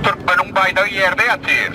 Türkmeniň baýdagy ýerde ýatyr.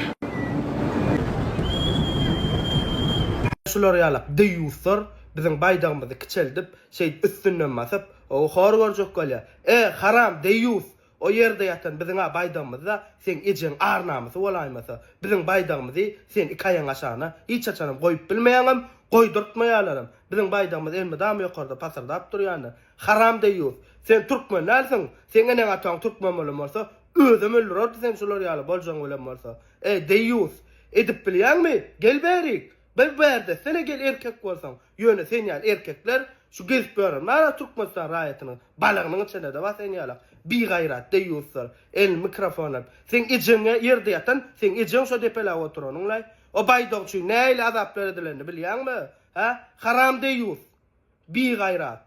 Şular ýalak deýýuslar biziň baýdagymyzy kiçeldip, şeýdip üstünden basyp, ow hor görjek bolýar. E, haram, deýýus! O ýerde ýatan biziň-ä baýdagymyz-da, seň ejeň ar-namysy bolaýmasa, biziň baýdagymyzy sen iki aýagyň aşagyna hiç haçanam goýup bilmeýäňem, goýdurtmaýarlaram. Biziň baýdagymyz elmydama ýokarda pasyrdap durýandyr. Haram deýýus. Sen türkmen dälsiň. Seň eneň ataň türkmen bolan bolsa, özem öldürerdi sen şular ýaly boljaň bilen bolsa. Eý, deýýus. Edip bilýäňmi? Gel bärik. Bir bärde etsene gel erkek bolsaň. Ýöne sen ýaly erkekler şu gezip ýören bar-a Türkmenistan raýatynyň balagynyň içinde-de bar sen ýalak. Bigaýrat, deýýuslar. Elini mikrofona alyp. Seň ejeň-ä ýerde ýatan, seň ejeň şo depeläp oturanyň-laý. O baýdak üçin nähili azaplar edilenini bilýäňmi? Hä? Haram deýýus. Bi gaýrat.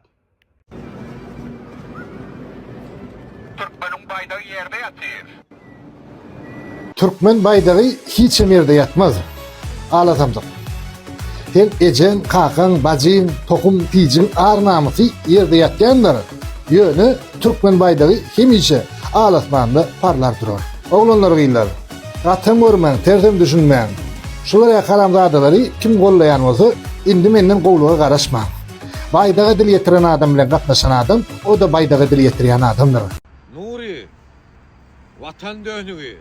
Türkmeniň baýdagy ýerde ýatyr. Türkmen baýdagy hiçem ýerde ýatmaz. Ala samsyk. Seň ejeň, kakaň, bajyň, tohum, tijiň ar-namysy ýerde ýatýandyr. Ýöne türkmen baýdagy hemişe al-asmanda parlar durar. Oglanlar gyzlar! Gatam görmäň, tersem düşünmäň. Şular ýaly haramzadalary kim gollaýan bolsa, indi menden gowlyga garaşmaň. Baýdaga dil ýetiren adam bilen gatnaşan adam, o-da baýdaga dil ýetirýän adamdyr. Nury, Watan dönügi,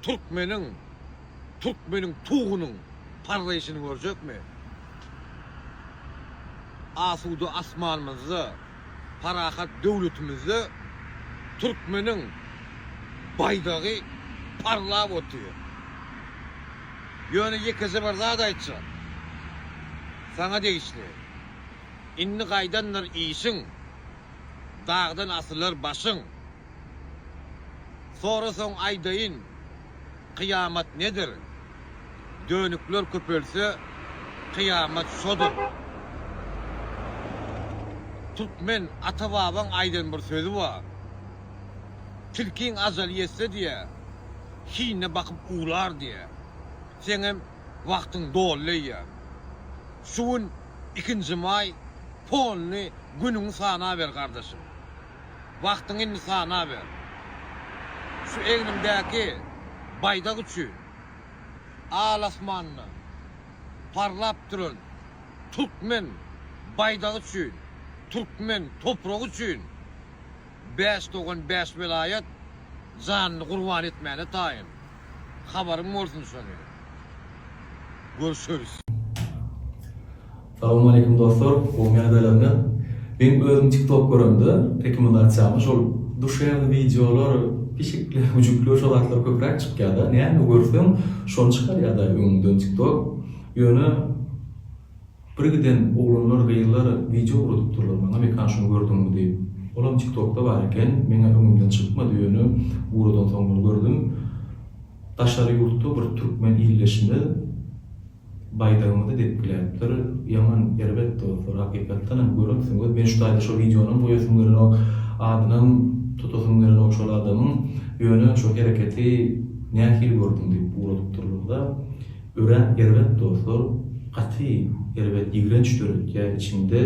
türkmeniň, türkmeniň tugunyň parlaýşyny görjekmi? Asuda asmanymyzda. parahat döwletimizde türkmeniň baýdagy parlap otyr. Ýöne ýekeje bir zat aýtjak. Saňa degişli. Indi gaýdandyr işiň, dagdan asylar başyň. Sorasaň aýdaýyn, kyýamat nedir? Dönükler köpelse, kyýamat şodur. Türkmen ata-babaň aýdan bir sözi bar. Tilkiň ajaly ýetse diýýär, hinine bakyp uwlar diýýär. Seňem wagtyň doly leýän. Şu gün ikinji maý, polny günüňi sanaber gardaşym. Wagtyňy indi sanaber. Şu egniňdäki baýdak üçin al asmanda parlap duran türkmen baýdagy üçin, türkmen topragy üçin bäş dogan, bäş welaýat janyny gurban etmäne taýyn. habaryň bolsun şony görşeris. Salowmaleýkim dostlar gowy mäzelerini men özüm tiktok göremde rekomendasiýamy şol duşewny wideolar pişikler güjükler şo zatlar köpräk çykýada näme görseň şony çykarýada öňüňden tiktok ýöne Bir giden oglanlar gyzlar wideo ugradypdyrlar maňa Mekan şuny gördüňmi diýip. Olam tiktokda bar eken meňe öňümden çykmady ýöne ugradan soň muny gördüm. Daşary ýurtda bir türkmen ildeşimiz baýdagymyzy depgiläpdir. Ýaman erbet dostlar hakykatdanam göremsiňiz men şu taýda şo wideonam goýasym gelenok adynam tutasym gelenok şol adamyň ýöne şo hereketi nähili gördüň diýip ugradypdyrlarda. Örän erbet dostlar gaty erbet ýigrenç döretýä içiňde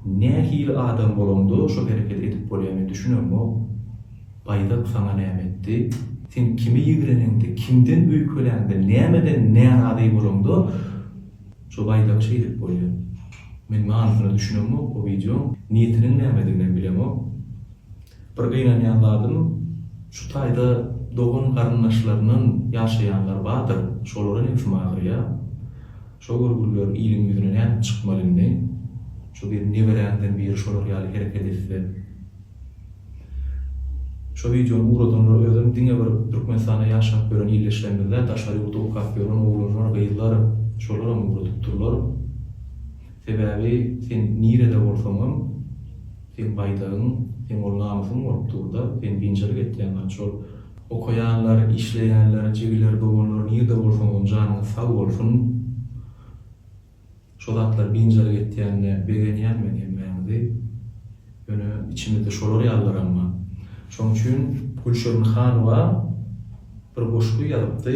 nähili adam bolaňda şo herekedi edip bolýa men düşünemok Baýdak saňa näme etdi sen kimi ýigreneňde kimden öýkeläňde nämeden närazy bolaňda şo Baýdagy şeýdip bolýa men manysyna düşünemok o wideoň niýetiniň nämediginem bilemok. Bir gynanýan zadym, şu taýda dogan-garyndaşlaryndan ýaşaýanlar bardyr, şolara nebsim agyrýar. Şo görgüliler iliň ýüzüne nädip çykmaly indi? Şu gelin neberäňden biri şolar ýaly hereket etse? Şo wideony ugradanlar özem diňe bir Türkmenistanda ýaşap ýören ildeşlerimiz däl, daşary ýurtda okap ýören oglanlar, gyzlar, şolaram ugradypdyrlar. Sebäbi sen nirede bolsaňam. Seň baýdagyň, seň ol namysyň bolup dur-da, sen biynjalyk etýäň gaty şol. Okaýanlar, işleýänler, jigiler, doganlar nirde bolsaňyzam janyňyz sag bolsun. Şo zatlar biynjalyk etýänine begenýän men hemmäňizi. Ýöne içimizde şolar ýalylaram bar. Şoň üçin Gülşirin Hanowa Bir goşgy ýazypdy.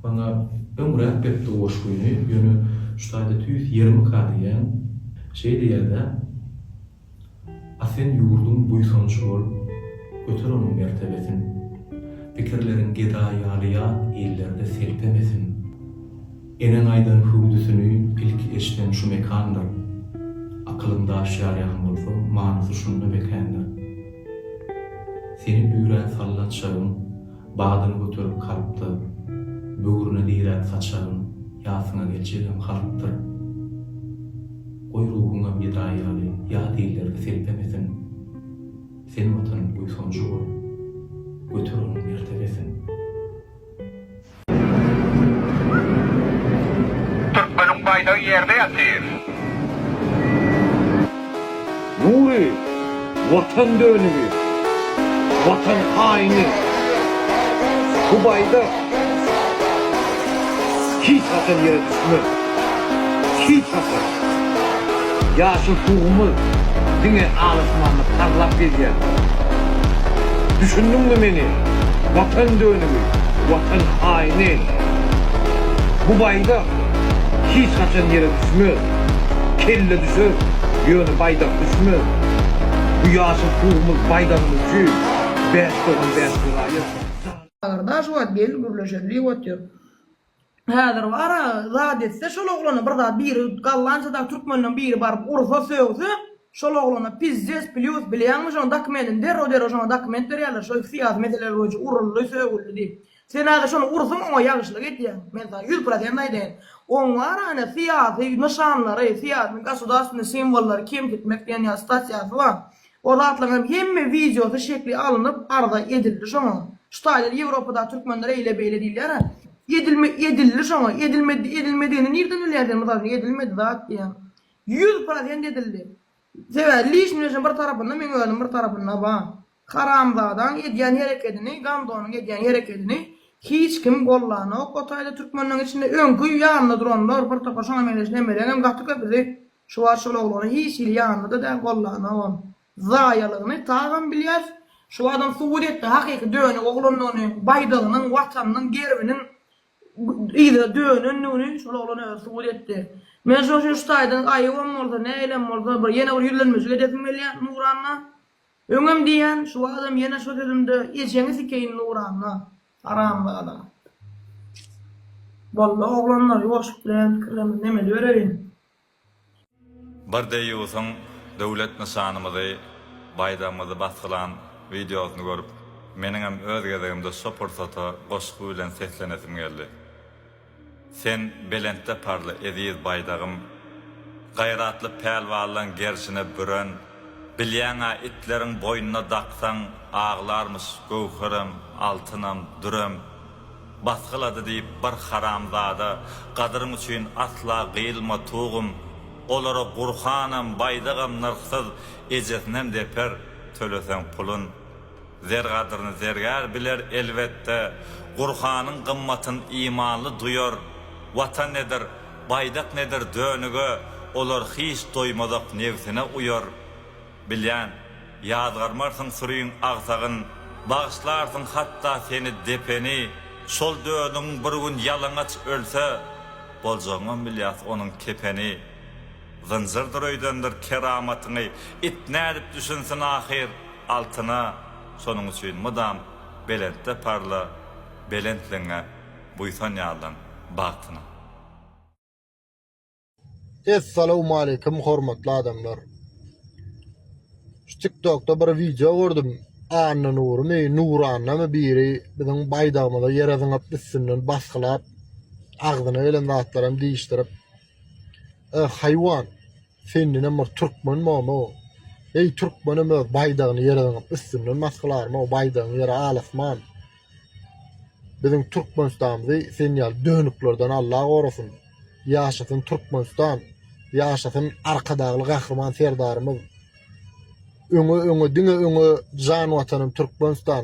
Maňa öňräk beripdi goşgyny, ýöne şu taýda tüýs ýermika diýýän. Şeý diýýär-dä, A sen ýurduň buýsanjy bol, göter onuň mertebesin. Pikirleriň geda ýaly ýat illerde selpemesin. Eneň aýdan hüwdüsini ilki eşden şu mekandyr. Akylyň daş ýarýan bolsa, manysy şunda mekändir. Seni üýrän sallat şagyň, badyny göterip kalpda, böwrüne dirän saçagyň, ýasyňa geljegem halkdyr. Goý ruhuňam geda ýaly ýat illerge selpemesin. Sen Watanyň buýsanjy bol, göter onuň mertebesin. Türkmeniň baýdagy ýerde ýatyr. Nury, Watan dönügi, Watan haýyny, bu baýdak hiç haçan ýere düşmez. Şyh Hasan, ýaşyl tugumyz diňe alasmanda parlap gezýär. Düşündiňmi meni, Watan dönügi, Watan haýyny! Bu baýdak hiç haçan ýere düşmez. Kelle düşer, ýöne baýdak düşmez. Bu ýaşyl tugumyz baýdagymyz üçin bäş dogan bäş gulaýyr. Agyrdaş wagt geldi gürleşeli diýip otyr. Häzir bara zat etse şol oglana bir zat biri gollançadan türkmenden biri baryp ursa sögse şol oglana pizdes plýus bilýäňmi şoň dakmendini derrew derrew şoňa dakment berýärler şo syýasy meseleler boýunça uruldy sögüldi diýip sen häzir şony ursuň oňa ýagşylyk edýäň men saňa ýüz prosent aýdaýyn oň bara ene syýasy nyşanlary syýasy gosudarstwnyý simwollary kemsitmek diýen ýaly stasiýasy bar O zatlaryňam hemme wideosy şekli alynyp arza edildi şoňa. Şu taýlar ýewropadaky türkmenler eýle beýle diýilýär-ä. Edilme edildi şoňa. Edilmedi edilmedigini nirden bilýäň sen mysal üçin edilmedi zat diýýäň. Ýüz prosent edildi. Sebäbi lişniň eşin bir tarapynda meň özüm bir tarapynda bar. Haramzadaň edýän herekedini Gandonyň edýän herekedini hiç kim gollanok o taýda türkmenleň içinde öňki ýanynda duranlar bir topar şoňa meňzeş nemeleňem gaty köpüsi Şu wagt şol oglany hiç hili ýanynda-da däl, gollanogam. Zaýalygyny tagam bilýäs. Şu wagtam subut etdi hakyky dönük oglandygyny, baýdagynyň, Watanynyň gerbiniň yza dönendigini şol oglan özi subut etdi. Men şoň üçin şu taýdan aýybam bolsa, nägilem bolsa bir ýene bir ýüzlenmejik edesim gelýär Nuranna. Öňem diýýän, şu wagtam ýene şo sözümde ejeňi sikeýin Nuranna. Haramzada. Boldy oglanlar ýuwaşlyk bilen pikirleniň nemeli bereýin. Bir deýýusyň döwlet nyşanymyzy, baýdagymyzy basgylan wideosyny görüp, meniňem öz gezegimde şo pursata goşgy bilen seslenesim geldi. Sen belentde parla, eziz Baýdagym! Gaýratly pälwanlaň gerşine büren, Bilýäň-ä, itleriň boýnuna daksaň, Aglarmyş göwherem, altynam, dürem. Basgylady diýip bir haramzada, Gadyryň üçin asla gyýylma, tugum! Olara Gurhanam, Baýdagam nyrhsyz, Ejesinem deper, töleseň pulun. Zer gadryny zergär biler, elbetde, Gurhanyň gymmatyn imanly duýar, Watan nedir, baýdak nedir dönüge olar hiç doýmazak nebsine uýar. Bilýän, ýazgarmarsyň süriň agsagyn, bagyşlarsyň hatda seni depeni, şol dönügiň bir gün ýalaňaç ölse, boljagyňam bilýas onuň kepeni. Zynjyrdyr öýdendir keramatyňy it nädip düşünsin ahyr altyna şonuň üçin mydam belentde parla belentligiňe buýsan ýallan bagtyna. Essalawmaleýkim hormatly adamlar. Şu tiktokda bir wideo gördüm Annanurymy Nurannamy biri biziň baýdagymyza ýere zyňyp üstünden basgylap agzyna gelen zatlaram diýişdirip Eh haýwan sendenem bir türkmen bomo eý türkmenem öz baýdagyny ýere zyňyp üstünden mas kylarmy o baýdagyň ýeri alasman biziň türkmenistanymyzy sen ýaly dönüklerden Allah gorasyn ýaşasyn türkmenistan ýaşasyn arkadagly gahryman serdarymyz öňe öňe diňe öňe jan watanym türkmenistan